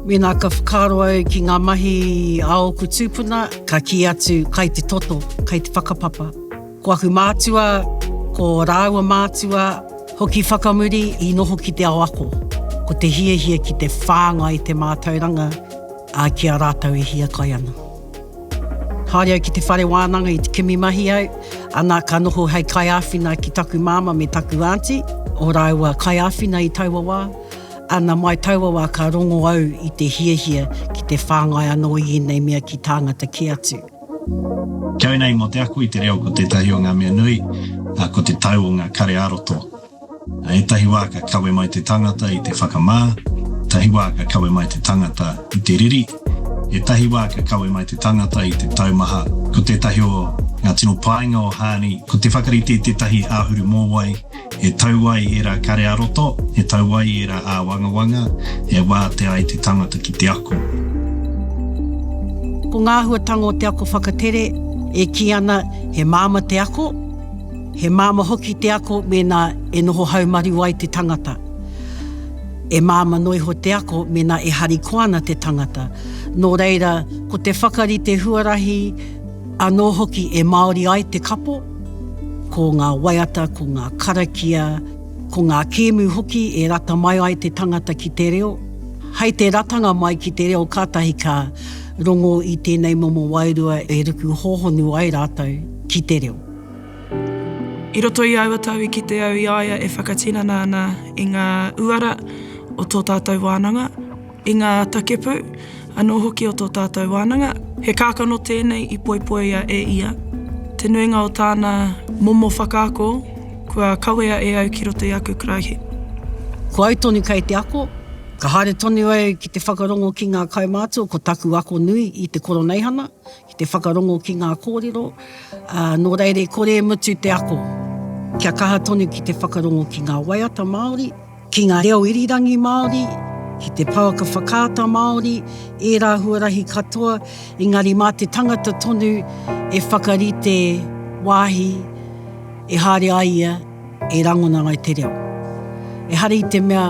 Mēnā ka whakaaro au ki ngā mahi a ōku tūpuna, ka kī atu, kai te toto, kai te whakapapa. Ko aku mātua, ko rāua mātua, hoki whakamuri i noho ki te ao ako. Ko te hiahia ki te whāngai te mātauranga. Ā, ki a rātou e hiakai ana. Haere au ki te whare wānanga i te kimi mahi au, ana ka noho hei kaiāwhina ki taku māmā me taku ānti, o rāua kaiāwhina i taua wā, ana mai taua wā ka rongo au i te hiahia ki te whāngai anō i ēnei mea ki tāngata kē atu. Kia ora nei, mō te ako i te reo ko tētahi o ngā mea nui, ko te tau o ngā kare ā-roto. I ētahi wā ka kawe mai te tangata i te whakamā, ētahi wā ka kawe mai te tangata i te riri, ētahi wā ka kawe mai te tangata i te taumaha. Ko tētahi o ngā tino painga o Hāni, ko te whakarite i tētahi āhuru mōwai e tau ai ērā kare-ā-roto, e tau ai ērā āwangawanga, e wātea ai te tangata ki te ako. Ko ngā āhuatanga o te ako whakatere e kī ana he māmā te ako. He māmā hoki te ako mēnā e noho haumaru ai te tangata. E māmā noa iho te ako mēnā e harikoa ana te tangata. Nō reira, ko te whakarite huarahi anō hoki e māori ai te kapo, ko ngā waiata, ko ngā karakia, ko ngā kēmu hoki e rata mai ai te tangata ki te reo. Hai te ratanga mai ki te reo kātahi ka rongo i tēnei momo wairua e ruku hōhonu ai rātou ki te reo. I roto i aua tau i kite au i a ia e whakatinana ana i ngā uara o tō tātou wānanga, i ngā takepū anō hoki o tō tātou wānanga. He kākano tēnei i poipoia e ia. Te nuinga o tāna momo whakaako kua kawea e au ki roto i aku karaehe. Ko au tonu kei te ako, ka haere tonu au ki te whakarongo ki ngā kaumātua ko taku ako nui i te koroneihana, Ki te whakarongo ki ngā kōrero, ā, nō reira i kore e mutu te ako. Kia kaha tonu ki te whakarongo ki ngā waiata Māori, ki ngā reo irirangi Māori, ki te pouaka whakaata Māori, ērā huarahi katoa, engari mā te tangata tonu e whakarite wāhi e haere ai ia e rangona ai te reo. Ehara i te mea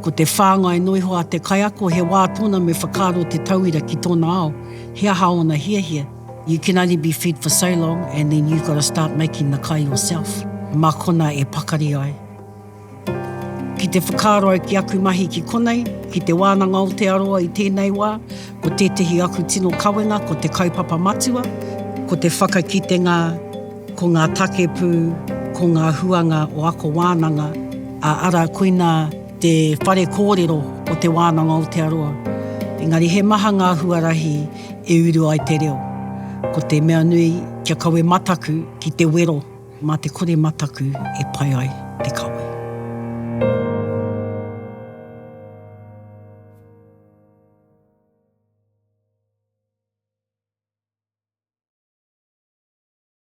ko te whāngai noa iho a te kaiako he wā tōna me whakaaro te tauira ki tōna ao. He aha ōna hiahia? You can only be fed for so long and then you've got to start making the kai yourself. Mā konā e pakari ai. Ki te whakaaro au ki aku mahi ki konei, ki Te Wānanga Aotearoa i tēnei wā, ko tētehi aku tino kawenga ko te kaupapa matua, ko te whakakitenga, ko ngā takepū, ko ngā huanga o ako wānanga, ā, arā, koinā, te whare kōrero o Te Wānanga Aotearoa, engari he maha ngā huarahi e uru ai te reo. Ko te mea nui, kia kawe mataku ki te wero, mā te kore mataku e pai ai te kawe.